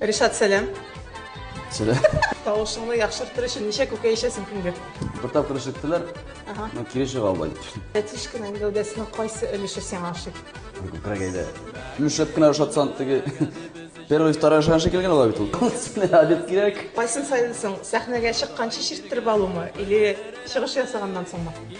Ришат, сәлам. Сәлам. Тавышыңны яхшыртыр өчен ничә күкәй эчәсең көнгә? Бер тапкыр эчеттеләр. Ага. Ну, кире чыга албай. Тәтишканың гәүдәсенең кайсы өлеше сиңа ошый? Күкрәк әйдә. Мөшәп кенә ошатсан теге. Первый, второй шаншы килгән ала бит ул. Сине обед кирәк. Кайсын сайлыйсың? Сәхнәгә чыкканчы чирттереп алумы или чыгыш ясаганнан соңмы?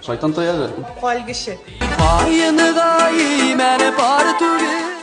Шайтан таягы. Калгыше. Каены да имәне бар түгел.